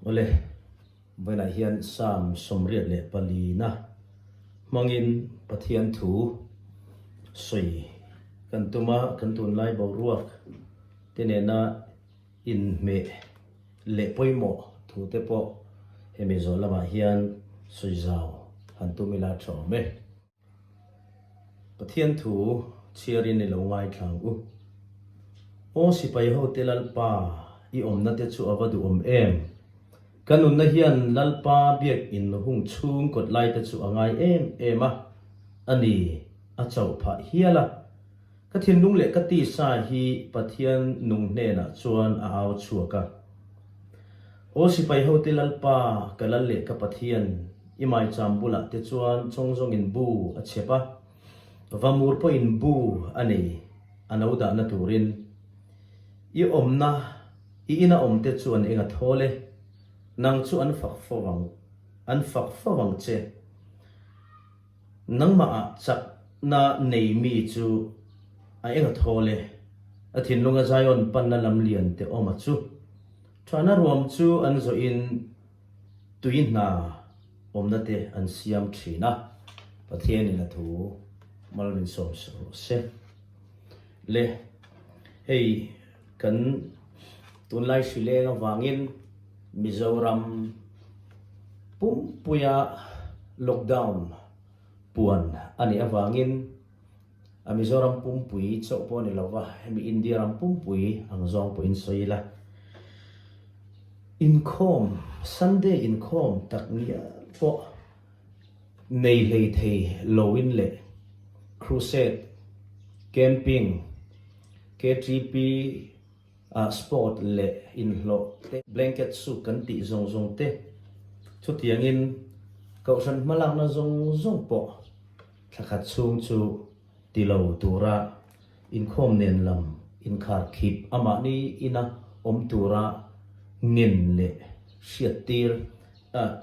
Awle, Bible-ah hian Psalm sawmriat leh palina hmangin Pathian thu sawi kan tum a, kan tunlai boruak te nena inhmeh leh pawimawh thu te pawh hemi zawh lamah hian sawi zau han tum ila thawm e. Pathian thu chhiarin i lo ngaithlang u. Aw sipaiho te Lalpa, i awmna te chu a va duh awm em? Ka nunna hian Lalpa biakin hung chhung kawt lai te chu a ngai em em a, a ni a chauh phah hial a. Ka thinlung leh ka tisa hi Pathian nung hnenah chuan a au chhuak a. Aw sipai hote Lalpa, ka Lal leh ka Pathian, i maicham bulah te chuan chawng zawngin bu a chhep a, va mur pawhin bu a nei, a no dahna turin. I awmna, i ina awmte chu an enga thawl e, nang chu an fak fo vang, an fak fo vang che. Nangmahah chakna nei mi chu a eng a thaw le, a thinlunga Zion panna lam lian te awm a chu. Thahna ruam chu an zawh in tui hna awmna te an siam thin a, Pathian in a thu mal min sawm suh rawh se. Le hei kan tunlai hrileng avangin Mizoram pumpuia lockdown puan a nih avangin a Mizoram pumpui chauh pawh a ni lova hemi India ram pumpui ang zawng pawh in sawi ila inkhawm Sunday inkhawm tak nia pawh Nei hlei thei loin leh Crusade, Camping, KTP ah sport leh inhlawh te, Blanket soup kan tih zawng zawng te, chutiangin Kohhran hmalakna zawng zawng pawh thlakhat chhung chu tilo tura. Inkhawm nen lam inkhar khip a mahni ina awm tura ngen leh hriat tir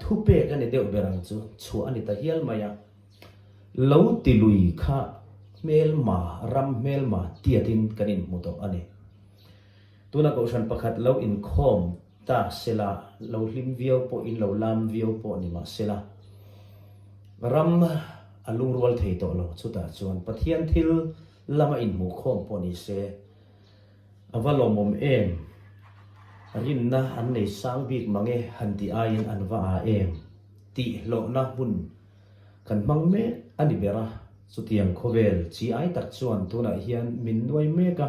thu pek a ni deuh ber ang chu chhuah a ni ta hial mai a. Lo ti lui kha hmelma ram hmelma tiat in kan in hmu tawh a ni. Tuna kohhran pakhat lo inkhawm. Ta sela, lo hlim viau pawh in lo lam viau pawh ni mah sela, ram a lungrual thei tawh lo chutah chuan Pathian thil lam a inhmuh khawm pawh ni se, a va lawmawm em? Rinna an nei sang bik mange han ti aiin an va a em? Tih hlawhna hmun kan hmang mek a ni ber a, chutiang khawvel chi ai tak chuan tunah hian min nuai mek a.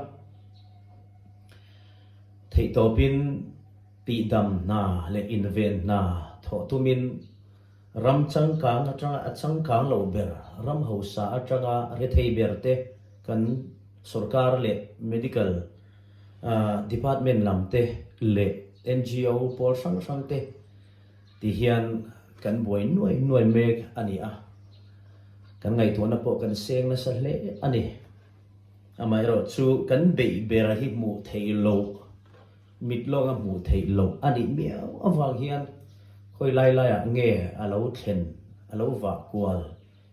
Theihtawpin tihdam hna le inven hna thawh tum in ram changkang atanga a changkang lo ber ram hausa atanga rethei ber te kan sorkar leh medical department lam te leh NGO pawl hrang hrang te ti hian kan buai nuai nuai mek a ni a, kan ngaihtuahna pawh kan seng nasa hle a ni. Amaherawh chu kan beih berah hi hmuh theih loh, mit lawnga hmuh theih loh a nih miau avang hian khawi lai laiah nge a lo thlen, a lo vah kual,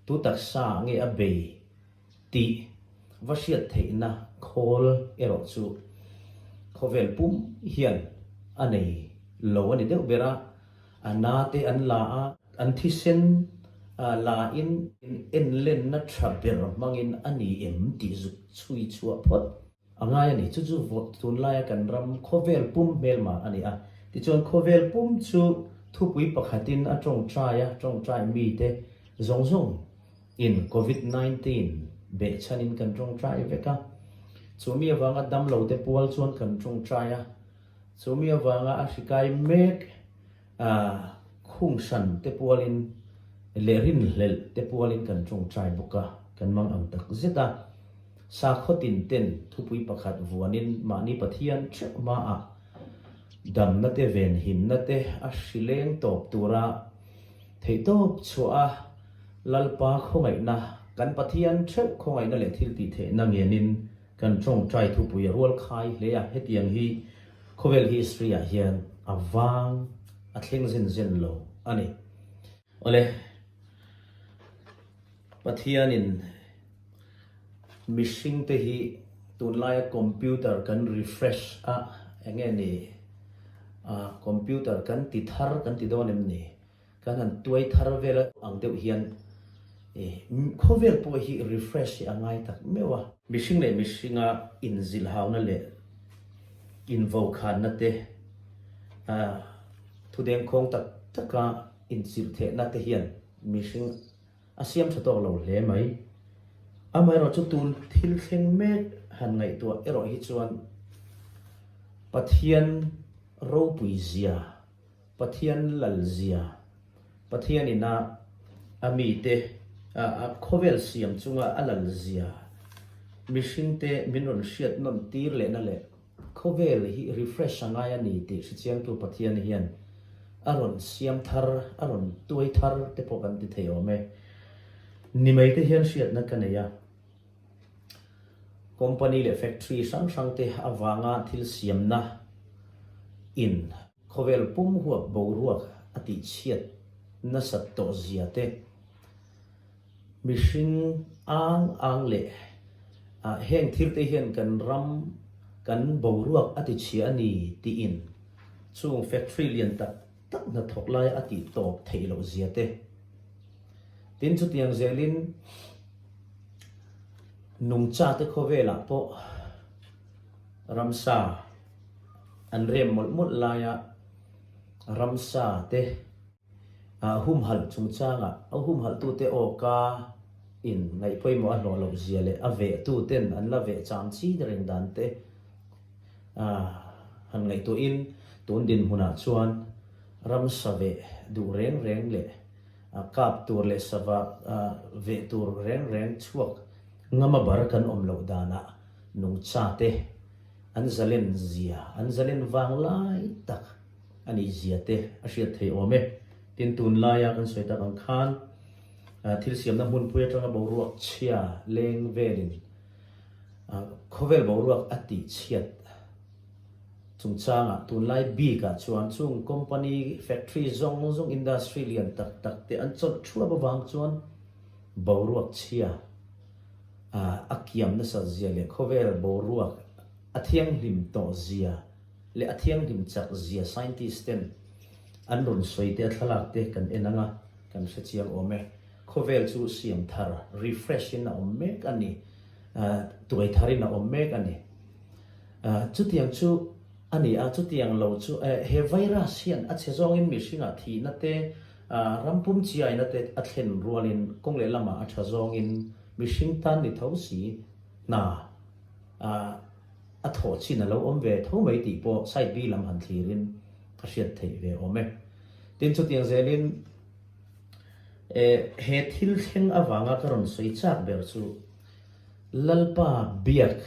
tu taksaah nge a bei tih va hriat theihna khawl erawh chu khawvel pum hian a nei lo a ni deuh ber a. A na te an la a, an thisen a la in en lenna tha ber hmang in a ni em tih zuk chhui chhuah phawt a ngai a ni. Chu chu vawt tunlai a kan ram khawvel pum hmel mah a ni a. Tichuan khawvel pum chu thupui pakhat in a tawngtai a, tawngtai mi te zawng zawng in Covid nineteen beh chhan in kan tawngtai vek a. Chu mi avang a damlo te pual chuan kan tawngtai a. Chumi avanga a hrikai mek a khung hran te pualin leh rinhlelh te pualin kan tawngtai bawk a, kan mang ang tak zet a. Sakhaw tin ten thupui pakhat vuanin mahni Pathian ṭhek hmaah damna te venhinna te a hri leng tawp tura theihtawp chhuah a Lalpa khawngaihna, kan Pathian ṭheuh khawngaihna leh thiltihtheihna ngenin, Kan tawngtai thupui a rual khai hle a, hetiang hi khawvel history ah hian a vang a thleng zin zin lo a ni. Awle Pathianin mihring te hi tun laia computer kan refresh a, eng nge ni, computer kan ti thar kan ti dawn em ni? Kan han tuai thar vel ang deuh hian i khawvel pawh hi refresh hi a ngai tak meuh a. Mihring leh mihringa inzilhauna leh invokhanna te, a thudeng khawng tak taka inchirhthehna te hian mihring a siam tha tawk lo hle mai. Amaherawh chu tun thil thleng mek han ngaihtuah erawh hi chuan Pathian ropui zia Pathian lalzia, Pathian ina a mite a khawvel siam chunga a lalzia mihringte min rawn hriat nawn tir lehna leh khawvel hi refresh a ngai a ni tih hrichiangtu Pathian hian a rawn siam thar, a rawn tuai thar te pawh kan ti thei awm e. Ni mai te hian hriatna ka nei a. Company leh factory hrang hrangte avanga thil siamna in khawvel pum huap boruak a tihchhiat nasat tawh zia te, mihring ang ang leh heng thirte hian kan ram kan boruak a tichhia a ni tiin chung factory lian tak, tak hnathawk lai a tih tawp theih loh zia te. Tin, chutiang zelin nungcha te khawvelah pawh ramsa an rem mawlh mawlh lai a, ramsa te humhalh chungchanga humhalhtute awka in ngaih pawimawh a hlawh loh zia leh a vehtu ten an la veh cham chin reng dan te, a han ngaihtuahin tun dinhmunah chuan ram save duh reng reng leh kap tur leh sava ve tur reng reng chhuak ngama bar kan awm loh danah nungchate an zalen zia, an zalen vang lai tak a nih zia te a hriat theih awm e. Tin, tun laia kan sawi tak ang khan thil siamna hmunpui atanga boruak chhia leng velin, Khawvel boruak a tih chhiat chungchangah tunlai bikah chuan chung company, factory zawng zawng, industry lian tak tak te an chawlh thuap avang chuan boruak chhia a kiam nasat zia leh khawvel boruak a thianghlim tawh zia leh a thianghlim chak zia scientist ten an rawn sawi te a thlalak te kan en ang a, kan hrechiang awm e. Khawvel chu siam thar, refresh, in a awm mek a ni. Tuai thar in a awm mek a ni. Chutiang chu a ni a, chutiang lo chu he virus hian a chhe zawngin mihringah thihna te, ram pum chiaina te a thlen rualin kawng leh lamah a tha zawngin mihring tan ni tho si hna a thawh chin a lo awm ve tho mai tih pawh side bi lam han thlirin ka hriat theih ve awm e. Tin chutiang zelin. Eh, he thil thleng avanga ka rawn sawi chak ber chu Lalpa biak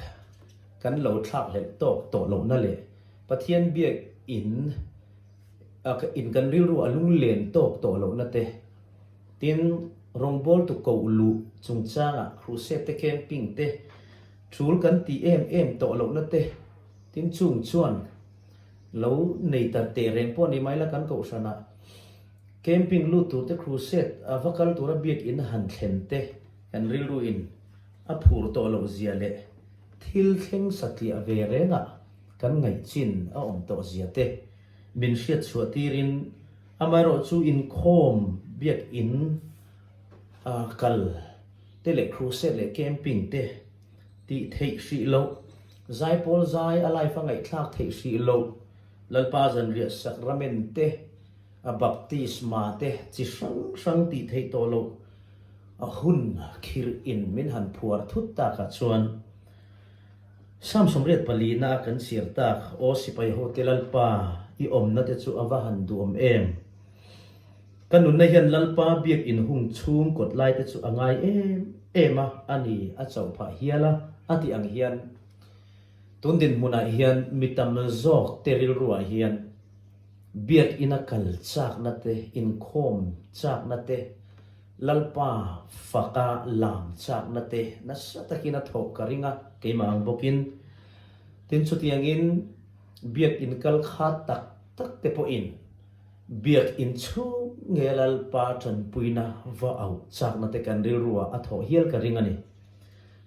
kan lo thlak hlelh tawk tawh lohna leh Pathian biak in in kan rilru a lunglen tawk tawh lohna te, tin, rawngbâwl tu ko luh chungchângah Crusade-te camping te, ṭhul kan ti êm êm tawh lohna te, tin, chung chuan lo nei ta tehreng pawh a ni mai la kan kohhranah, Camping lut tur te crusade a va kal tura biakina han thlen te kan rilru in a phur tawh loh zia leh thil thleng satliah ve rengah kan ngaih chin a awm tawh zia te min hriatchhuah tirin amaherawh chu inkhawm biakina kal te leh crusade leh camping te tih theih hrih loh zai pawl zai a life a ngaihthlak theih hrih loh Lalpa Zanriah Sakrament te A baptisma te chi hrang hrang tih theih tawh loh a hun khir in min han phuar thut tak ah chuan Sam sawmriat pali na a kan chir tak aw sipai ho te Lalpa i awmna te chu a va han duhawm em? Ka nunna hian Lalpa biak in hung chhung kawt lai te chu a ngai em em a a ni a chauh phah hial a a tih ang hian tun dinhmun ah hian mi tam zawk te rilru ah hian Biakina kal chakna te, inkhawm chakna te, Lalpa faka lam chakna te nasa takin a thawh ka ring a, keimah ang bawkin. Tin chutiangin Biakinn kal kha tak tak te pawhin Biakinn chhung nge Lalpa tanpuina va auh chakna te kan rilruah a thawh hial ka ring a ni.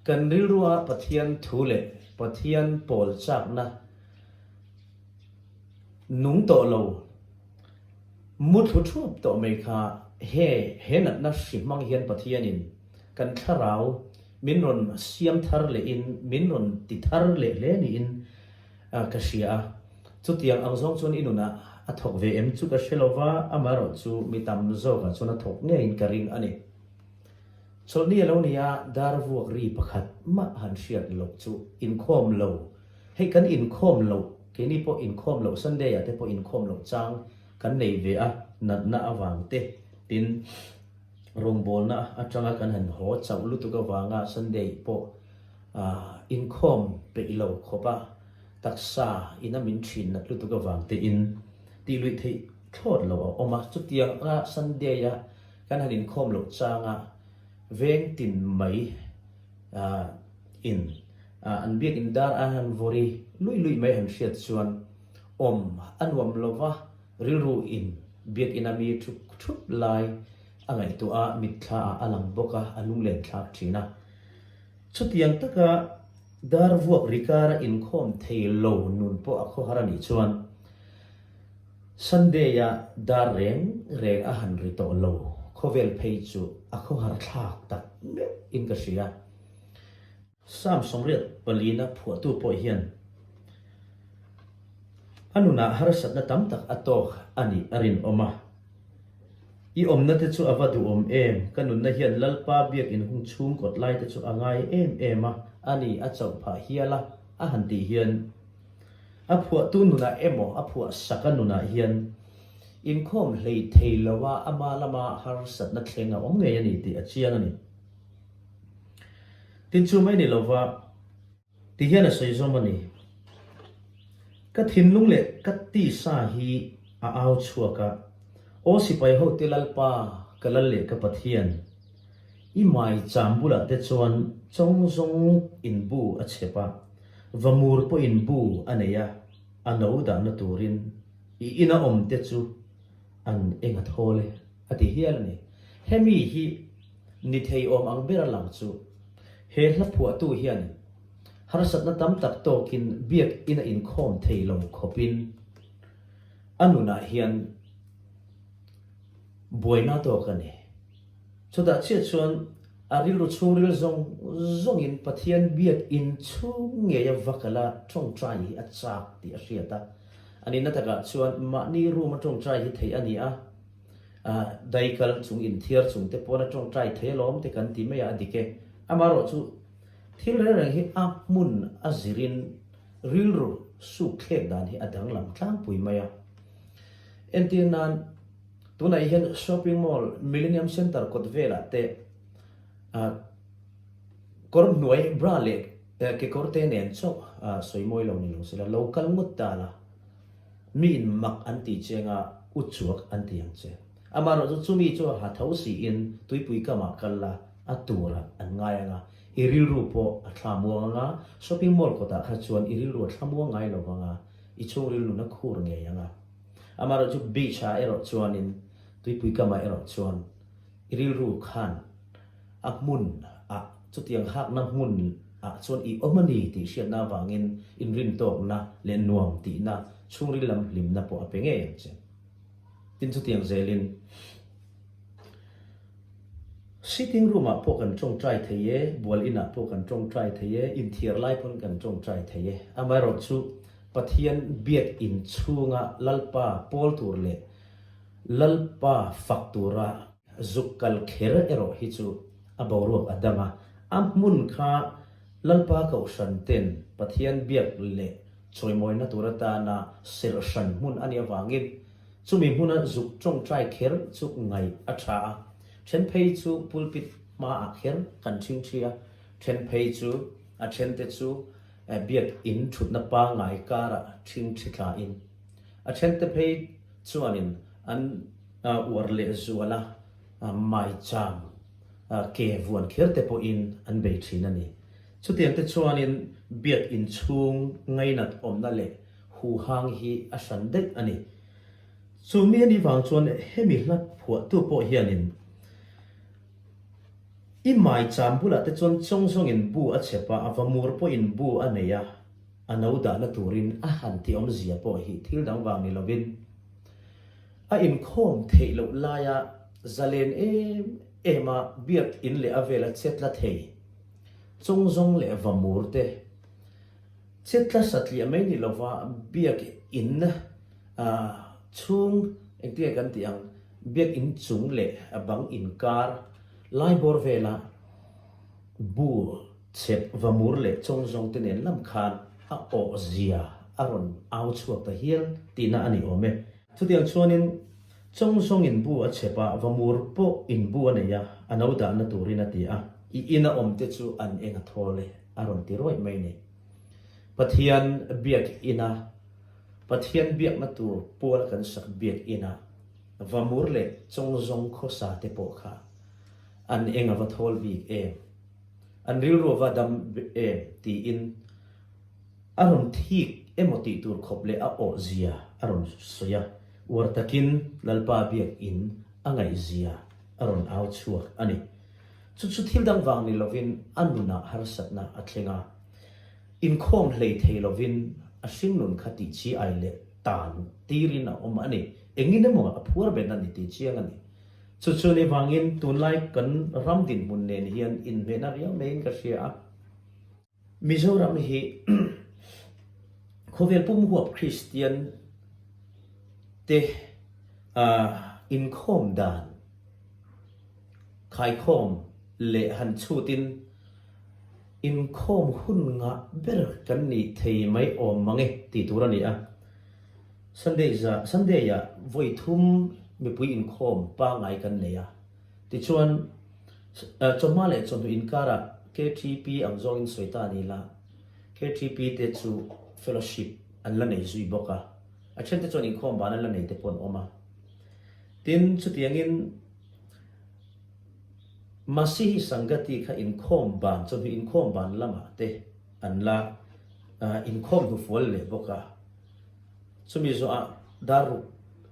Kan rilruah Pathian thu leh Pathian pawl chakna, Nung tawh lo, muthlu thup tawh mai kha he he natna hri hmang hian Pathianin kan thlarau min rawn siam thar leh in, min rawn ti thar leh hle niin ka hria a, chutiang ang zawng chuan i nunah a thawk ve em chu ka hre lo va, amaherawh chu mi tam zawkah chuan a thawk ngeiin ka ring a ni. Chawlhni a lo nia, dar vuak ri pakhat mah han hriat loh chu inkhawm lo. Hei kan inkhawm loh, keini pawh inkhawm loh Sunday-ah te pawh inkhawm loh chang kan nei ve a, natna avang te. Tin, rawngbawlna atanga kan han haw chauh lutuk avanga Sunday pawh inkhawm peih lo khawpa taksa ina min ṭhin nat lutuk avang tein tih luih theih thlawt lo a awm a. Chutianga Sunday-a kan han inkhawm loh changa veng tin mai, in an biakin dar a han vawr i lui lui mai han hriat chuan awm a nuam lo va, rilru in biakin a mi thup thup lai a ngaihtuah a mitthla ah a lang bawk a, a lunglen thlak thin a. Chutiang taka dar vuak ri kara inkhawm thei lo nun pawh a khawhar a nih chuan. Sunday-a dar reng reng a han ri tawh lo. Khawvel phei chu a khaw har thlak tak meuh in ka hria. Sam sawmriat palina phuahtu pawh hian a nunah harsatna tam tak a tawk a nih a rinawm a. I awmna te chu a va duhawm em, ka nunna hian Lalpa biakin hung chhungkawt lai te chu a ngai em em a, a ni a chauh phah hial a, a han tih hian. A phuahtu nunah emaw a phuahsaka nunah hian inkhawm hleithei loa ama lama harsatna thleng a awm ngei a ni tih a chiang a ni. Tin chu mai ni lova ti hian a sawi zawm a ni. Ka thinlung leh ka tisa hi a au chhuak a, aw sipai ho te Lalpa ka Lal leh ka Pathian, I mai cham bulah te chuan chawng zawng in bu a chhep a, va mur pawhin bu a nei a, a no dahna turin i ina awm te chu an enga thawl e a ti hial a ni. Hemi hi ni theiawm ang ber a lang chu. He hla phuahtu hian harsatna tam tak tawkin biakin a inkhawm thei lo khawpin a nunah hian buaina tawk a ni. Chutah chiah chuan a rilru chhungril zawng zawngin Pathian biakinn chhung ngeia va kalh a, ṭawngṭai hi a chak tih a hriat a. A ninna takah chuan mahni ruma ṭawngṭai hi theih a ni a, dai kal chung inthiar chungte pawna ṭawngṭai theih alawm te kan tih mai a a dik e. Amaherawh chu, thilreng reng hi a hmun a zirin rilru sukthlek dan hi a danglam tlangpui mai a. Entir nan, Tunah hian Shopping Mall Millenium Centre kawt velah te kawr hnuai bra leh kekawr te nen chauh sawi mawi lo ni lo sela lo kal ngawt dan a mi in mak an ti cheng a u chuak an ti ang che. Amaherawh chu chumi chu a ha tho siin tuipui kamah kal la a tura an ngai anga i rilru pawh a thla muang anga shopping mall kawtah kha chuan i rilru a thla muang ngai lo anga i chhungril nuna khur ngei anga. Amaherawh chu beach ah erawh chuanin tuipui kam ah erawh chuan i rilru khan a hmun ah chutiang hakna hmun ah chuan i awm a ni tih hriatna avangin inrin tawkna leh nuam tihna chhungril lam hlimna pawh a pe ngei ang che. Tin chutiang zelin sitting room ah pawh kan tawng try thei e, bual in ah pawh kan tawng try thei e, inthiar lai pawn kan tawng try thei e. Amaherawh chu Pathian Biakinn chhunga Lalpa pawl tur leh Lalpa fak tura zuk kal kher erawh hi chu a boruak a dang a. A hmun kha Lalpa Kohhran ten Pathian biak leh chawimawina tur atana serh hran hmun a nih avangin chumi hmuna zuk tawngtai kher chu ngaih a tha a. Then phei chu pulpit hmaah kher kan chhing thi a. Then phei chu a thente chu. a biakinn thutna pangngai karah ṭhing ṭhi thlain a ṭhente phei chuanin an uar leh zuala maichang ke vuan khirte pawhin an bei ṭhin a ni. Chutiangte chuanin biakinn chhung ngainat awmna leh huhang hi a hran daih a ni. Chumi a nih vang chuan hemi hlat phuahtu pawh hianin. I mai cham bulah te chuan chawng zawngin bu a chep a, a va mur pawhin bu a nei a, a no dahna turin a han ti awmzia pawh hi thil dang vang ni lovin a inkhawm theih loh laia zalen em ema biak in leh a vela chetla thei chawng zawng leh va mur te Chitla satliah mai ni lova biak in chhung engtikai kan tih ang biak in chung leh a bang inkar lai bawr vela bu chep vamur leh chawng zawng te nen lam khan a awh zia a rawn au chhuak ta hial tihna a ni awm e. Chutiang chuan in Chawng zawng in bu a chep a, va mur pawh in bu a nei a, a no dahna turin a ti a. I in a awm te chu an eng a thawl e, a rawn ti ruaih mai ni. Pathian biak in a, Pathian biakna tur pual kan sak biak in a, va mur leh chawng zawng khawsa te pawh kha an eng a va thawl bik em? An rilru a va dam em? tiin. A rawn thik emaw tih tur khawp leh a awh zia a rawn sawi a, uar takin Lalpa biak in a ngaih zia a rawn au chhuak a ni. Chu chu thil dang vang ni lovin a nunah harsatna a thleng a, inkhawm hlei thei lovin a hringnun kha tih chi ai leh tan tirin a awm a ni. Engin emaw a phuar bet a ni tih chiang a ni. Chu chu ni vangin tunlai kan ram dinhmun nen hian inhmehna riau maiin ka hria a. Mizoram hi khawvel pum huap Kristian te inkhawm dan, khaikhawm leh han chhutin inkhawm hun ngah ber kan nih thei mai awm mang e tih tur a ni a. Sunday-a Sunday-a vawi thum mipui inkhawm pangngai kan nei a. Tichuan, chawhma leh chawhnu inkarah KTP ang zawngin sawi ta ni la, KTP te chu fellowship an la nei zui bawk a, a ṭhente chuan inkhawm vana la nei te pawh an awm a. Tin, chutiangin Masihi Sangati kha inkhawm van, chawhnu inkhawm van lamah te an la inkhawm hnufual leh bawk a. Chumi zawhah dar ruk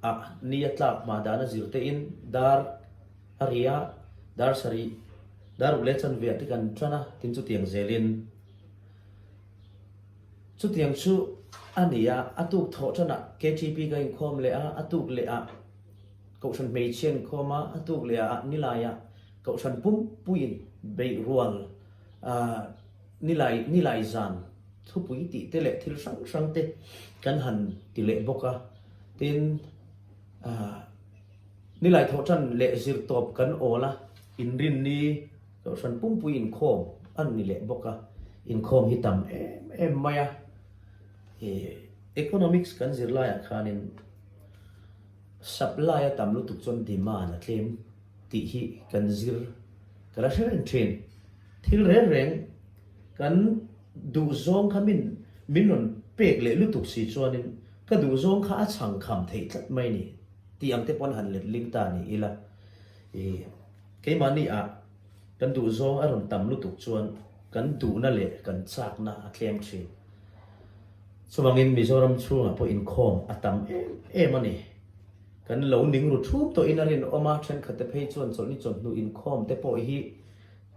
ah ni a tlak hma dan a zir tein dar a ria, dar sarih, dar ruk leh chanveah te kan tan a tin chutiang zel in chutiang chu a ni a, a tuk thawh tan ah KTP ka inkhawm leh a, a tuk leh ah Kohhran hmeichhia an inkhawm a, a tuk leh ah ni lai ah Kohhran pumpuiin beih rual ah. Nilai nilai zan thupui tih te leh thil hrang hrang te kan han ti leh bawk a, tin nilai thawhtan leh zir tawp kan awl a, inrin ni Kohhran pumpuii inkhawm an ni leh bawk a, inkhawm hi tam em em mai a, economics kan zir laiah khanin supply a tam lutuk chuan demand a tlem. tih hi kan zir, ka la hre reng thin. Thil reng reng kan duh zawng kha min min rawn pek leh lutuk si chuanin ka duh zawng kha a chhang kham theih tlat mai ni tih ang te pawn han let ling ta ni ila. I keimahni ah kan duh zawng a rawn tam lutuk chuan kan duhna leh kan chakna a tlem thin. Chuvangin Mizoram chhungah pawh inkhawm a tam em em a ni. Kan lo ning ru thup tawhin a rinawm a, thenkhatte phei chuan chawlh ni chawlh hnu inkhawm te pawh hi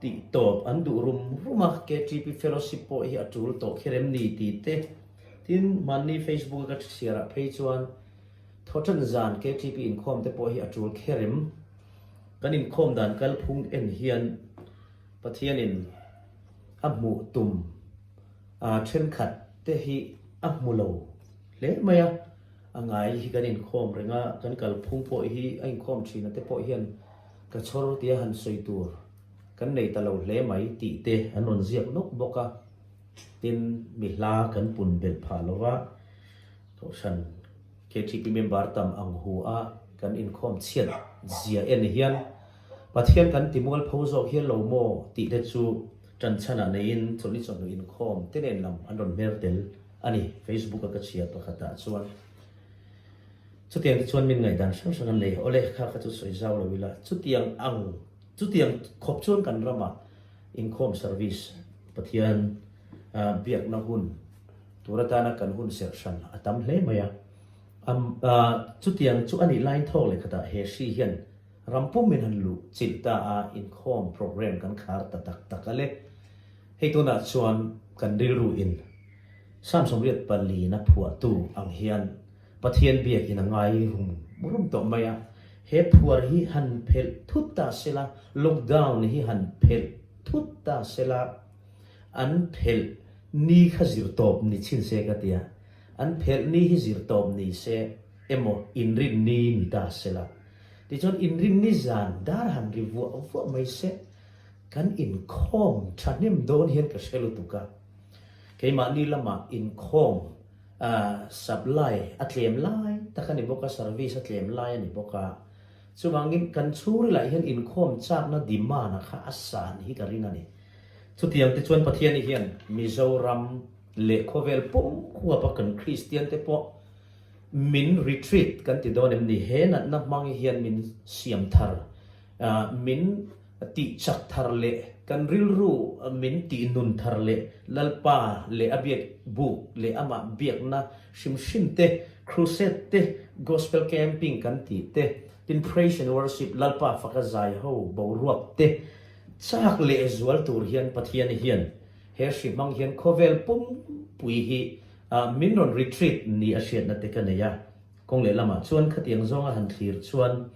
tih tawp an duh rum rum a, KTP fellowship pawh hi a tul tawh kherem ni ti te. Tin, hmanni Facebook a ka hriarah phei chuan thaw then zan KTP inkhawm te pawh hi a tul kherem. Kan inkhawm dan kalphung en hian Pathianin a hmuh tum a, thenkhat te hi a hmu lo hle mai a. A ngai hi kan inkhawm reng a, kan kalphung pawh hi a inkhawm thin ate pawh hian ka chhawr tia han sawi tur kan nei ta lo hle mai tih te an rawn ziak nawk bawk a, tin mi hla kan pun belh phah lo va, Kohhran KTP member tam ang hu a kan inkhawm chhiat zia en hian Pathian kan ti mual pho zawk hial lo maw tih te chu tanchhana neiin chawlh ni chawlh lo inkhawm te nen lam an rawn hmer tel. A ni, Facebook-a ka chhia pakhatah chuan chutiang te chuan min ngaihdan hrang hrang an nei a, awle kha kha chu sawi zau lo ila, chutiang ang, chutiang khawp chuan kan rama inkhawm service Pathian biakna hun tur atana kan hun serh hran a tam hle mai a, am chutiang chu a nih lain thawk leh khatah he hri hian ram pum in han luh chilh ta a inkhawm program kan khar ta tak tak ale. Hei tunah chuan kan rilru in Samsom riat pali in a phuahtu ang hian Pathian biak in a ngai rum rum tawh mai a, he phuar hi han phelh thut ta se la, lockdown hi han phelh thut ta se la, an phelh ni kha zir tawp ni chin se ka ti a, an phelh ni hi zir tawp ni se emaw inrin ni ni ta se la, tichuan inrin ni zan dar han ri vuah vuah mai se. Kan inkhawm thahnem dawn hian ka hre lutuk a, keimahni lama inkhawm supply a tlem lai tak a ni bawk a, service a tlem lai a ni bawk a, chuvangin kan chhungril ah hian inkhawm chakna demand a kha a san hi ka ring a ni. Chutiang te chuan Pathian i hian Mizoram leh khawvel pumhuap a kan Kristian te pawh min retreat kan ti dawn em ni? He natna hmang i hian min siam thar. min tih chak thar leh kan rilru min tih nun thar leh Lalpa leh a biak buk leh amah biakna hrim hrim te, Crusade te, Gospel Camping kan tih te, tin Praise and Worship, Lalpa faka zai ho boruak te chak leh zual tur hian Pathian hian he hri hmang hian khawvel pumpui hi min rawn retreat nih a hriatna te ka nei a, kawng lehlamah chuan khatiang zawnga han thlir chuan.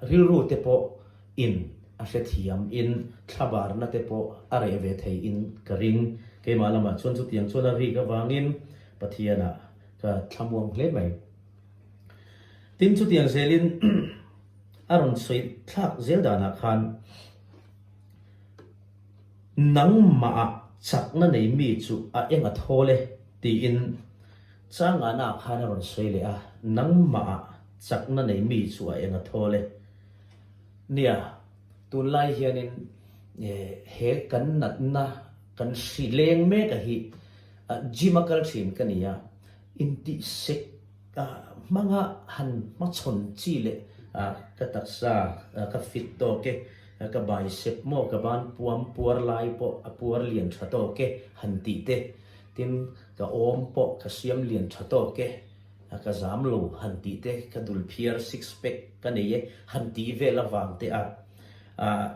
Rilru te pawh in a hrethiam in thlabarna te pawh a reh ve thei in ka ring. Keimah lamah chuan chutiang chuan a rik avangin Pathianah ka thlamuang hle mai. Tin, chutiang zelin a rawn sawi thlak zel danah khan, Nangmahah chakna nei mi chu a eng a thawl e, tiin changahnaah khan a rawn sawi leh a, nangmahah. Chakna nei mi chu a eng a thawl e. Nia, tunlai hianin he kan natna kan hri leng mek a hi gym a kal thin ka ni a, intihsek hmanga han hmachhawn chi leh a, ka taksa ka fit tawk e, ka bicep maw ka ban puam puar lai pawh a puar lian tha tawk e han tih te, tin ka awm pawh ka siam lian tha tawk e. A ka zam lo han tih te ka dul phiar six pack ka nei e han tih vel avang te ah ah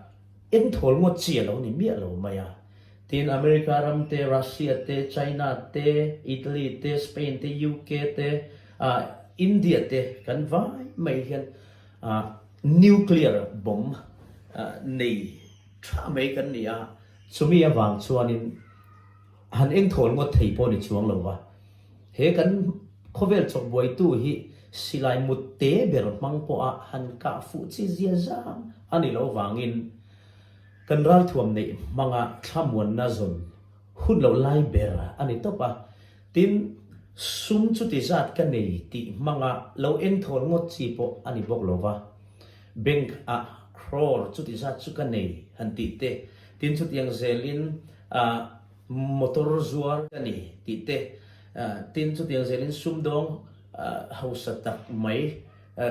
eng thawl maw chi alo ni miah lo mai a. Tin America ram te, Russia te, China te, Italy te, Spain te, UK te ah India te kan vai mai hian ah nuclear bomb ah nei tha mai kan ni a. Chumi avang chuan in. Han eng thawl ngawt thei pawh ni chuang lo va, he kan khawvel chawh buaitu hi silai mutte ber hmang pawha han kah fuh chi zia zam a ni lo vangin kan ralthuam neih hmanga thlamuanna zawn hun loh lai ber a ni tawp a. Tin, sum chuti zat ka nei tih hmanga lo eng thawl ngawt chi pawh a ni bawk lo va, bank-ah crore chuti zat chu ka nei han tih te, Tin chutiang zelin motor zuar ka ni tih te, tin chutiang zelin sumdawng hausa tak mai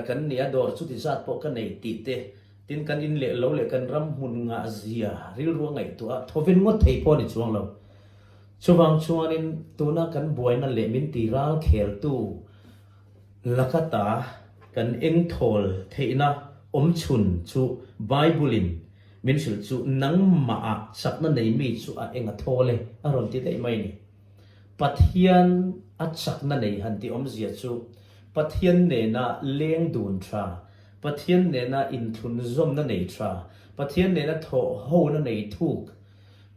kan ni a, dawr chuti zat pawh ka nei tih te, tin kan in leh lo leh kan ram hmun ngah zia rilrual ngaihtuah a thawven ngawt thei pawh a ni chuang lo. Chuvang chuanin tuna kan buaina leh min ti ral kheltu laka ta kan eng thawl theihna awmchhun chu Bible-in, Min hrilh chu nangmah a sakna nei mi chu a eng a thaw le a rawn ti daih mai ni. Pathian a chakna nei han ti awmzia chu Pathian nena leng dun tha, Pathian nena inthlun zawmna nei tha, Pathian nena thawh hona nei thuk,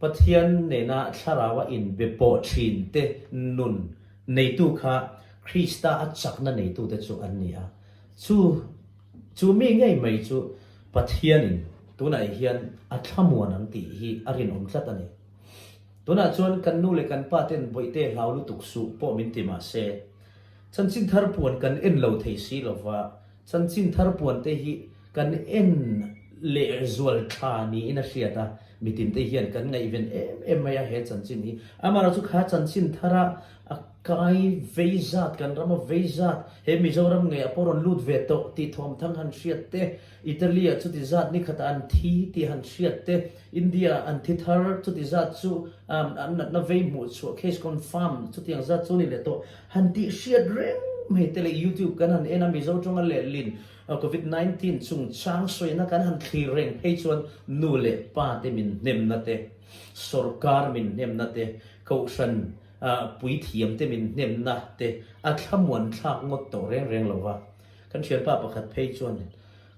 Pathian nena thlarau a in be pawh thin te nun neitu kha Krista a chakna neitute chu an ni a. Chu. Chu mi ngei mai chu Pathianin tunah hian a thlamuan ang tih hi a rinawm tlat a ni. Tunah chuan kan nu leh kan pa ten bawihte hlau lutuk suh pawh min ti mah se, chanchin thar puan kan en lo thei si lo va, chanchin thar puante hi kan en leh zual tha niin a hriat a, mitinte hian kan ngaihven em em mai a he chanchin hi. Amaherawhchu kha chanchin thara a. Kai vei zat, kan ram a vei zat, he Mizoram nge a pawh rawn lut ve tawh tih thawm thang han hriat te, Italy ah chuti zat nikhatah an thi tih han hriat te, India ah an thi thar chuti zat chu an natna vei hmuh chhuah, case confirmed, chutiang zat chu ni leh tawh han tih hriat reng mai te leh YouTube kan han en a, Mizo tawnga leh lin Covid nineteen chung chang sawina kan han thlir reng phei chuan nu leh pa te min hnemna te, sorkar min hnemna te, Kohhran. a puithiam te min hnemna te a thlamuan thlak ngawt tawh reng reng lo va, kan thianpa pakhat phei chuan,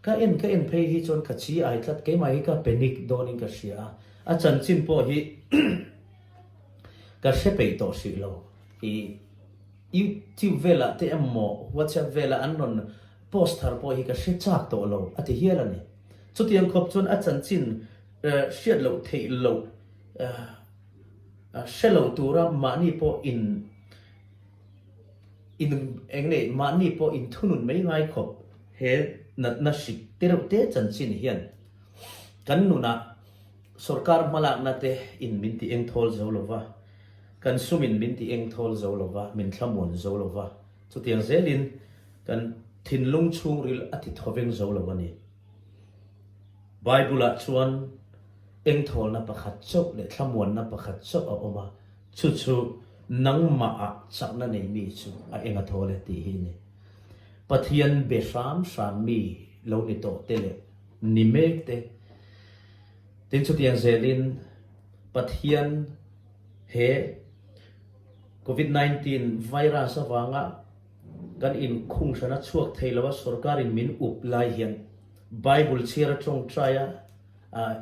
Ka en ka en phei hi chuan ka chi ai tlat, keimah hi ka panic dawn in ka hria a, a chanchin pawh hi ka hre peih tawh hrih lo. I YouTube velah te emaw WhatsApp velah an rawn post thar pawh hi ka hre chak tawh lo, a ti hial a ni. Chutiang khawp chuan a chanchin hriat loh theih loh. Hre lo tura mahni pawh in in eng nge mahni pawh in thunun mai ngai khawp he natna hrik te reuh te chanchin hian kan nunah sorkar hmalakna te in min ti engthawl zo lo va, kan sumin min ti engthawl zo lo va, min thlamuan zo lo va. Chutiang zelin kan thinlung chhungril a ti thawveng zo lo a ni. Bible-ah chuan engthawlna pakhat chauh leh thlamuanna pakhat chauh a awm a, chu chu nangmahah chakna nei mi chu a eng a thawl e tih hi a ni. Pathian be hram hram mi lo ni tawh te leh ni mek te. Tin chutiang zelin Pathian he Covid nineteen virus avanga, Kan inkhung hrana chhuak thei lo a sorkarin min up lai hian Bible chhiar a tawng try a,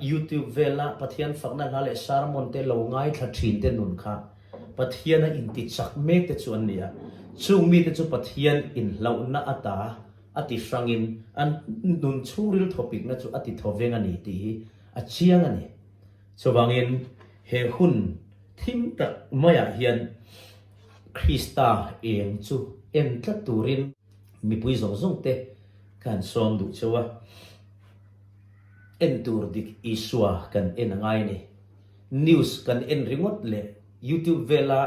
YouTube vel a Pathian fakna hla leh sermon te lo ngaithla thin te nun kha Pathian a inti chak mek te chu an ni a, chung mite chu Pathian inhlauhna ata a ti hrangin an nun chhung ril thawpikna chu a ti tho veng a ni tih hi a chiang a ni. Chuvangin he hun thim tak maiah hian. Krista êng chu en tlat tûrin mipui zawng zawngte kan sâwm duh chauh a, en tûr dik Isua kan en a ngai ni. News kan en ringawt leh YouTube vela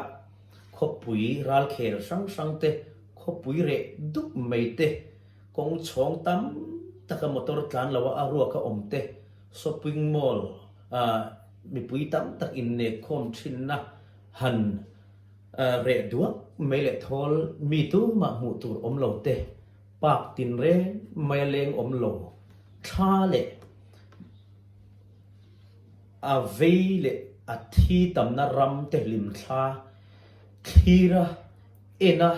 khawpui râlkhêl hrang hrangte, khawpui reh dup maite, kawng chhawng tam taka motor tlân loha a ruak a awm te, shopping mall a mipui tam tak innek khâwm ṭhinna, han reh duak mai leh thawl mi tum mah hmuh tur awm lo te, park tin reng mai a leng awm lo, thla leh a vei leh a thi tamna ram te limthla thlir a en a,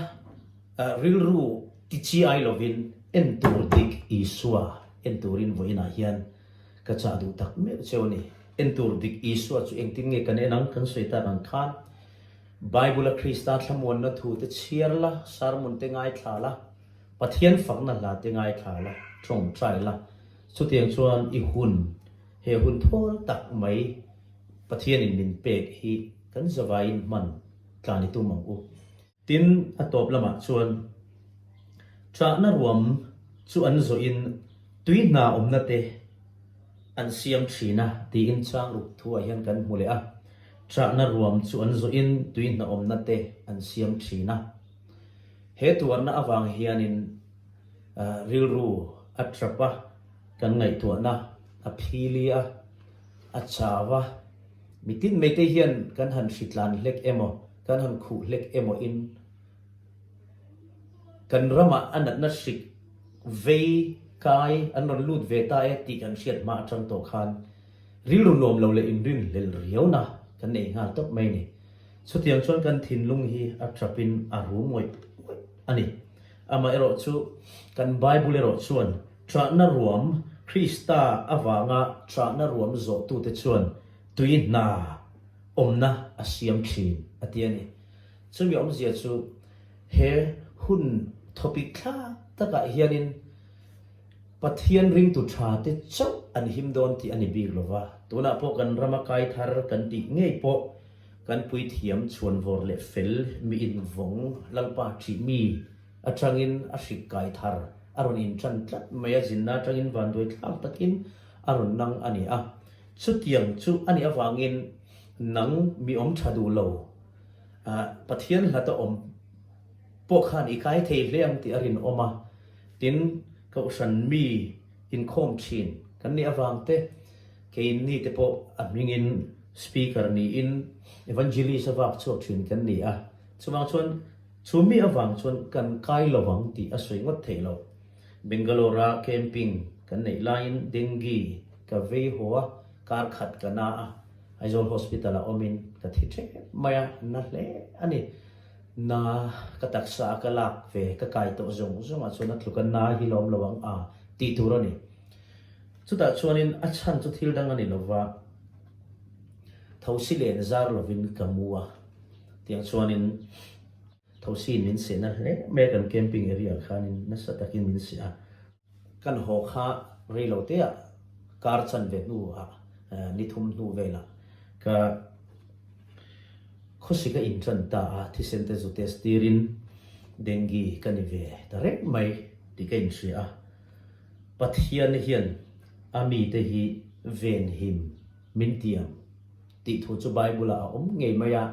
rilru ti chi ai lovin en tur dik Isua en turin vawiinah hian. Ka chah duh tak meuh che aw ni. En tur dik Isua chu engtin nge kan en ang? Kan sawi tak ang khan, Bible-a Krista thlamuanna thu te chhiar la, sermon te ngaithla la, Pathian fakna hla te ngaithla la, tawngtai la. Chutiang chuan i hun, he hun thawl tak mai Pathianin min pek hi kan zavaiin hman tla ni tum ang u. Tin, a tawp lamah chuan chahna ruam chu an zawhin tui hna awmna te an siam thin a tiin changruk thu ah hian kan hmu leh a. Chahna ruam chu an zawhin tui hna awmna te an siam thin a. He tuarna avang hianin rilru a tap a, kan ngaihtuahna a phil i a chau a, mitin meite hian kan han hritlan hlek emaw? Kan han khuh hlek emawiin kan ramah a natna hrik vei, kai an rawn lut ve ta e tih kan hriat hma atang tawh khan rilru nuam lo leh inrin hlel riauna kan nei nghal tawp mai ni. Chutiang chuan kan thinlung hi a ṭapin a ru ngawih ngawih a ni. Amaherawh chu, kan Bible erawh chuan ṭahna ruam, Krista avanga ṭahna ruam zawhtute chuan tui hna, awmna a siam thin a ti a ni. Chumi awmzia chu he hun topic thla takah hianin Pathian ringtu tha te chauh an him dawn tih a ni bik lo va, tunah pawh kan rama kai thar kan tih ngei pawh kan puithiam chhuanvawr leh fel mi invawng Lalpa thih mi atangin a hrik kai thar a rawn intan tlat mai a, zinna atangin vanduai thlak takin a rawn nang a ni a. Chutiang chu a nih avangin nang mi awm tha duh lo, ah, Pathian hlat a awm pawh khan i kai thei hle ang tih a rinawm a, tin Kohhran mi inkhawm thin kan nih avang te, kei ni te pawh a hmingin Speaker niin Evangelist a vak chhuak thin kan ni a, chuvang chuan chu mi avang chuan kan kai lo ang tih a sawi ngawt theih lo. Bangalore-ah camping kan neih laiin dengue ka vei haw a, kar khat ka na a, Aizawl Hospital-ah awmin ka thi thep mai a, na hle a ni. Na ka taksa a ka lak ve, ka kai tawh zawng zawngah chuan a tluka na hi lawm lo ang a tih tur a ni. Chutah chuanin a chhan chu thil dang a ni lova, thosi len zar lovin ka mu a, tiang chuanin. Thosi min sehna hle mai a kan camping area khan in nasa tak in min seh a, kan haw kha rei lo te ah car chan ve hnu ah ni thum hnu vel ah ka khawsi ka in tan ta a, thisen te zu test tir in dengue ka ni ve ta reng mai tih ka in hria a, Pathian hian a mi te hi venhim min ti ang. Tih thu chu Bible-ah a awm ngei mai a,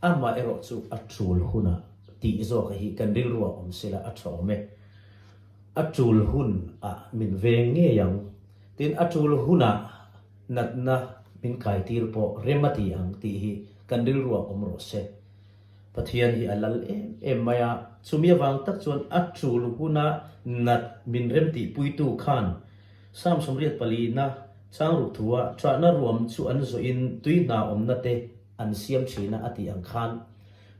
amah erawh chu a tul hunah tih zawk hi kan rilruah awm sela a tha awm e. A tul hun a min veng ngei ang, tin a tul hunah natna min kaitir pawh rem a ti ang tih hi kan rilruah awm rawh se. Pathian hi a lal em em mai a, chumi avang tak chuan a tul hunah nat min remtihpuitu khan, Psalm sawmriat pali na changruk thua chahna ruam chu an zawhin tui hna awmna te an siam thin a a tih ang khan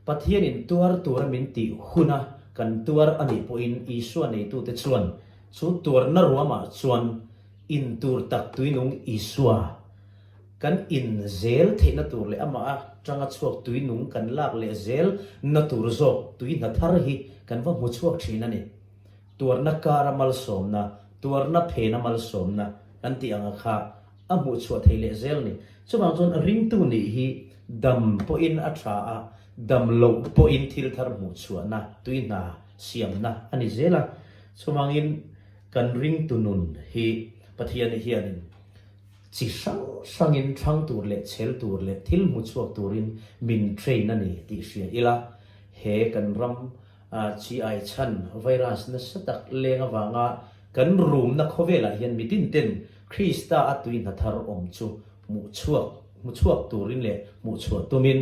Pathianin tuar tura min tih huna kan tuar a nih pawhin Isua neitute chuan chu tuarna ruamah chuan intur tak tuinung Isua kan in zel theihna tur leh amah atanga chhuak tuinung kan lak leh zel na tur zawk tui hna thar hi kan va hmu chhuak thin a ni. Tuarna kara malsawmna, tuarna phena malsawmna kan tih ang kha a hmuh chhuah thei leh zel ni. Chuvang chuan a ringtu nih hi dam pawhin a tha a, dam loh pawhin thil thar hmuh chhuahna, tui hna siamna a ni zel a. Chuvangin kan ringtu nun hi Pathian hianin chi hrang hrangin thlâng tur leh chhel tur leh thil hmu chhuak turin min train a ni tih hria ila he kan ram, A chhi ai chhan, Virus nasa tak leng avanga kan rumna khawvelah hian mi dinten Krista a tui hna thar awm chu hmuh chhuak hmu chhuak turin leh hmuh chhuah tumin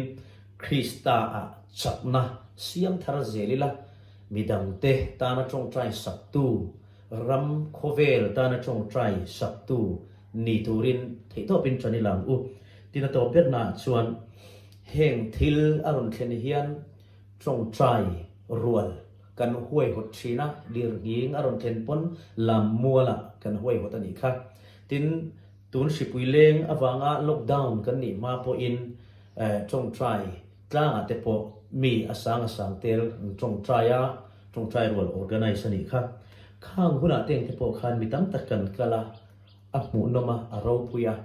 Krista a chakna siam thar zel ila mi dangte tana tawngtai saktu, ram khawvel tana tawngtai saktu ni turin theihtawpin tan i lang u. Tina tawp ber naah chuan heng thil a rawn thlen hian. Tlawngchai rual kan huaihawt thin a, dirhing a rawn thlen pawn lam mualah kan huaihawt a nih kha. Tin, tun hripui leng avanga lockdown kan nih hma pawhin Tlawngchai tlangah te pawh mi a sang a sang tel Tlawngchai a, Tlawngchai rual organise a nih kha. Khang hunah te engte pawh khan mi tam tak kan kal a. A hmuh nawm a, a ropui a.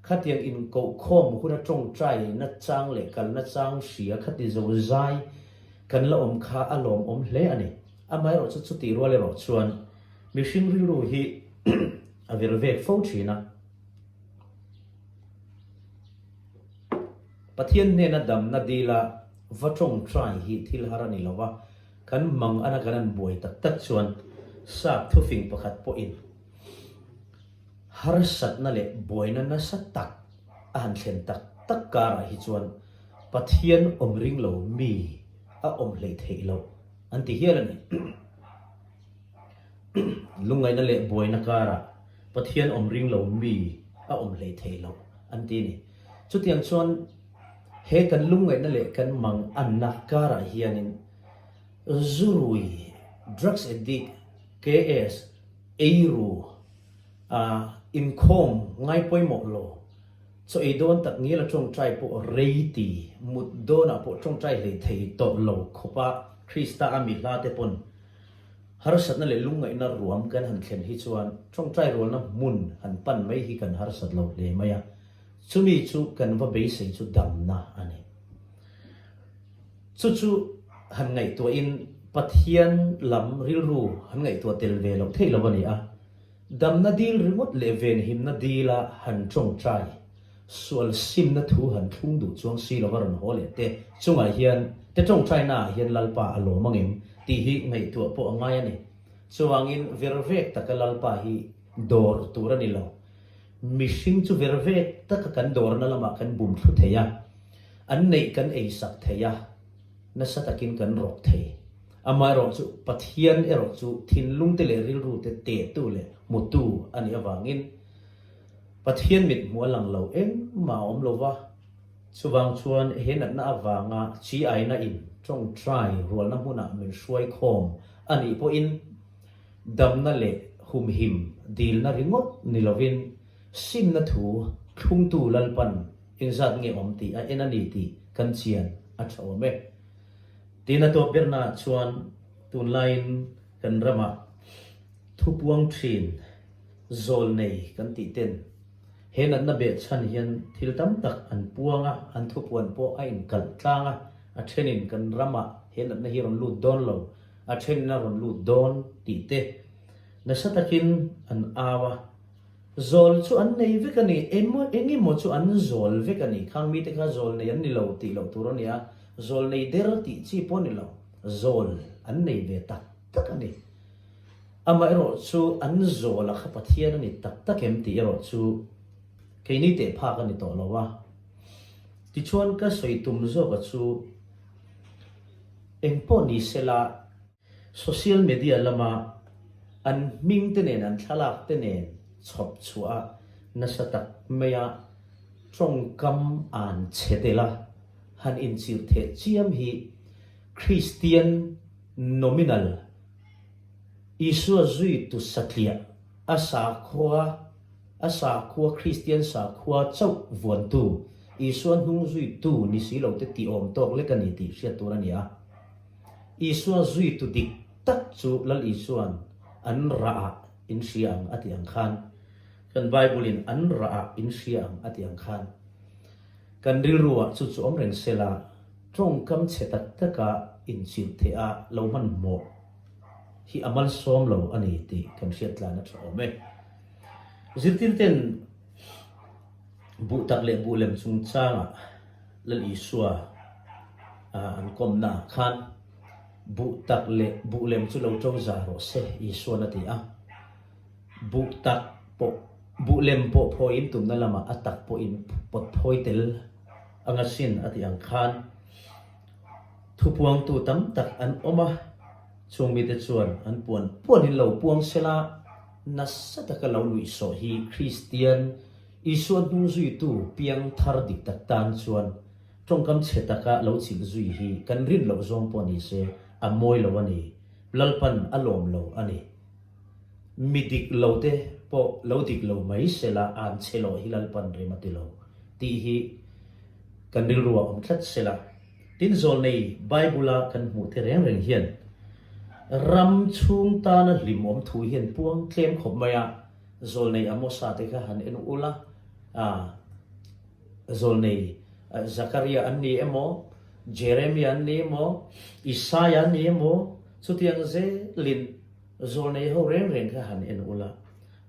Khatiang inkohkhawm huna tawngtai na chang leh kalna chang hria kha ti zo zai kan la awm kha a lawmawm hle a ni. Amaherawh chu chutih rual erawh chuan mihring rilru hi a vir vek fo thin a. Pathian hnena damna dila va tawngtai hi thil har a ni lo a, kan hmang ana kan han buai tak tak chuan sakthu fing pakhat pawhin, harsatna leh buaina nasa tak a han thlen tak tak karah hi chuan Pathian awm ring lo mi a awm hlei theih loh an ti hial a ni. Lungaina leh buaina karah Pathian awm ring lo mi a awm hlei theih loh an ti a ni. Chutiang chuan he kan lungaina leh kan mang anna karah hianin, Zurui, Drugs Addict, KS, eiru, a inkhawm ngai pawimawh lo. Chaw ei dawn tak ngila tawngtai pawh reiti mut dawnah pawh tawngtai hlei thei tawh lo khawpa Krista-a mi hla te pawn harsatna leh lungngaihna ruam kan han thlen hi chuan tawngtai rualna hmun han pan mai hi kan harsat lo hle mai a, chumi chu kan va beisei chu damna a ni. Chu chu han ngaihtuah in Pathian lam rilru han ngaihtuah tel ve loh thei lo a ni a. Damna dil ringawt leh venhimna dil a han tawngtai. Sual simna thu han thlung duh chuang si lo a rawn haw leh te chungah hian te tawngtaina ah hian Lalpa a lawm ang em tih hi ngaihtuah pawh a ngai a ni. Chuangin ver vek taka Lalpa hi dawr tur a ni lo. Mihring chu ver vek taka kan dawrna lamah kan bum thlu thei a. An neih kan ei sak thei a, nasa takin kan rawk thei. Amaherawh chu, Pathian erawh chu thinlungte leh rilrute tehtu leh hmutu a nih avangin, Pathian mithmuh a lang lo engmah a awm lo va. Chuvang chuan he natna avanga Chi aina in tawngtai rualna hmuna min hruai khawm a nih pawhin, damna leh humhim dilna ringawt ni lovin Simna thu thlungtu Lalpan in zat nge awm tih a en a ni tih kan chian a tha awm e. Tin a tawp ber naah chuan tunlaiin kan rama thu puang thin zawl nei kan tih ten he natna beh chhan hian thil tam tak an puang a, an thupuan pawh a in kalh tlang a, a then in kan rama he natna hi rawn lut dawn lo, a then in a rawn lut dawn tih te nasa takin an au a. Zawl chu an nei vek a ni, emaw eng emaw chu an zawl vek a ni. Khang mite kha zawl nei an ni lo tih loh tur a ni a, zawl nei der tih chi pawh a ni lo, zawl an nei ve tak tak a ni. Amaherawh chu an zawla kha Pathian a ni tak tak em tih erawh chu keini teh phak a ni tawh lo a. Tichuan ka sawi tum zawk a chu engpawh ni sela, Social media lama an hming te nen an thlalak te nen chhawp chhuah a nasa tak mai a, tawngkam an che del a, han inchirh theh chiam hi Kristian nominal Isua zui tu satliah a sakhua a sakhua Kristian sakhua chauh vuantu Isua hnung zui tu ni si lo te ti awm tawk lek a ni tih hriat tur a ni a. Isua zui tu dik tak chu Lal Isua'n an rah ah in hria ang a ti ang khan, kan Bible-in an rah ah in hria ang a ti ang khan, kan rilru ah chu chu awm reng se la, tawngkam che tak tak ah inchirh theih ah lo hmanhmawh hi a malsawm lo a ni tih kan hriattlan a tha awm e. Zirtirte'n buh tak leh buh lem chungchang ah, Lal Isua ah an kawmna ah khan buh tak leh buh lem chu lo to za rawh se, Isuan a ti a. Buh tak pawh, buh lem pawh phawi in tumna lamah a tak pawhin pawt phawi tel a ngasin a tih ang khan thu puangtu tam tak an awm a, chung mite chuan an puan puan in lo puang sela nasa taka lo luih sawh hi Kristian, Isua hnung zuitu piang thar dik tak tan chuan tawngkam chhe taka lo chilh zui hi kan rin loh zawng pawh ni se, a mawi lo a ni. Lalpan a lawm lo a ni. Mi dik lo te pawh lo dik lo mai se la an chhe lawh hi lalpan rem a ti lo tih hi kan rilru a awm tlat se la, tin zawl nei Bible-a kan hmuh te reng reng hian ram chhung tana hlimawm thu hian puang tlem khawp mai a. Zawl nei a Mosa te kha han en ul a, aah, zawl nei Zakaria an ni emaw, Jeremia an ni emaw, Isaiah an ni emaw, chutiang zel in zawl nei ho reng reng kha han en ul a.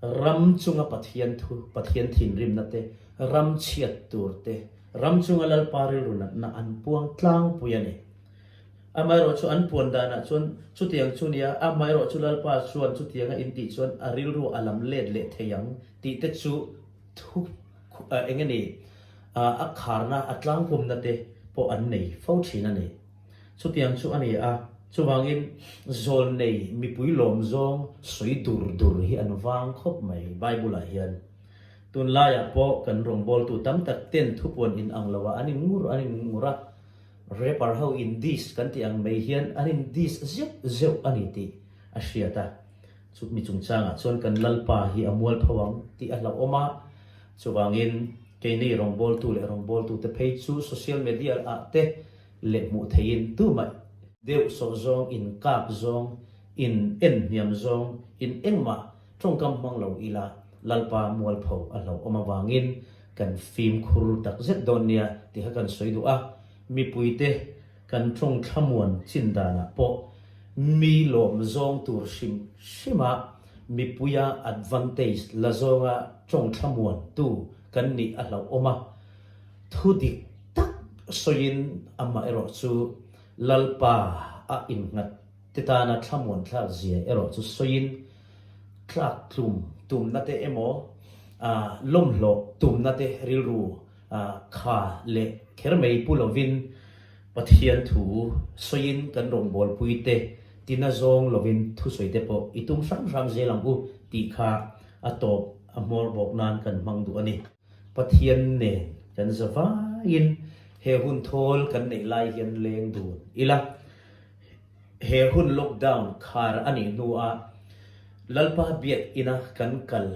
Ram chunga Pathian thu, Pathian thinrimna te, ram chhiat tur te, ram chunga Lalpa rilru natna an puang tlangpui a ni. A hmaerawh chu an puan danah chuan chutiang chu nia, a hmaerawh chu Lalpa chuan chutiang a intih chuan a rilru a lam let leh thei ang tih te chu thu eng e ni a kharna a tlangpumna te pawh an nei fo thin a ni. Chutiang chu a ni a, chuvangin zawl nei mipui lawm zawng sawi dur dur hi an vang khawp mai Bible ah hian. Tun laiah pawh kan rawngbawltu tam tak ten thupuan in ang lo a an in ngur an in ngur a, Rapper ho in diss kan tih ang mai hian an in diss zeuh zeuh a ni tih a hriat a, chutni chungchangah chuan kan Lalpa hi a mual pho ang tih a hlauhawm a, chuvangin kei nei rawngbawltu leh rawngbawltute phei chu social media ah te leh hmuh theihin duhmaih, deuhsawh zawng, inkap zawng, in en hniam zawng, in engmah Tawngkam hmang lo ila Lalpa mualpho a hlauhawm avangin kan fimkhur takzet dawn nia ti kha kan sawi duh a, mipuite kan tawng thlamuan chin danah pawh mi lawm zawng tur hrim hrima mipuia advantage la zawnga tawng thlamuan tu kan nih a hlauhawm a, thu dik tak sawiin amaherawhchu Lalpa a innghat Titana thlamuan thlak zia erawh chu sawiin tlak tlum tumnate emaw, lawmhlawh tumnate rilru kha leh kher mai pu lovin Pathian thu sawiin kan rawngbawlpui te tina zawng lovin thusawi te pawh i tum hram hram zel ang u tih kha a tawp a hmawr bawk nan kan hmang duh a ni. Pathian nen kan za vaiin he hun thawl kan neih lai hian leng dun ila. He hun lockdown khar a nih hnuah Lalpa Biakina kan kal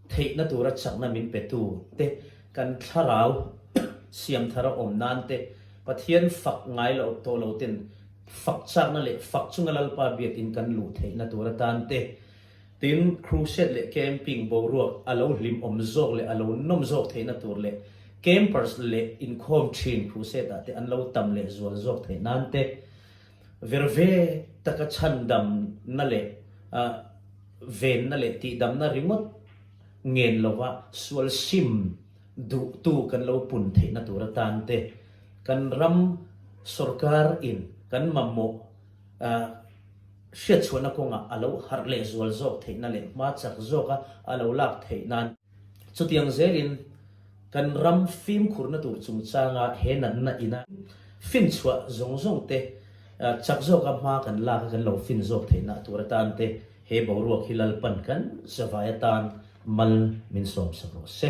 theihna tura chakna min petu te, kan thlarau siam thara awm nan te, Pathian fak ngai lo tawh lo ten fak chakna leh fak chunga Lalpa Biakin kan luh theihna tura tan te, Tin, crusade leh camping boruak a lo hlimawm zawk leh a lo nawm zawk theihna tur leh campers leh inkhawm thin crusade ah te an lo tam leh zual zawk theih nan te ver ve taka chhandamna leh venna leh tihdamna ringawt ngen lova sual sim duhtu kan lo pun theihna tur atan te kan ram sorkar in kan mamawh A hriatchhuahna kawnga a lo harh leh zual zawk theihna leh hma chak zawka a lo lak theih nan, chutiang zelin kan ram fimkhurna tur chungchanga he natna ina finchhuah zawng zawng te chak zawka hma kan laka kan lo fin zawk theihna tur atan te he boruak hi lalpan kan zavai atan mal min sawmsak rawh se.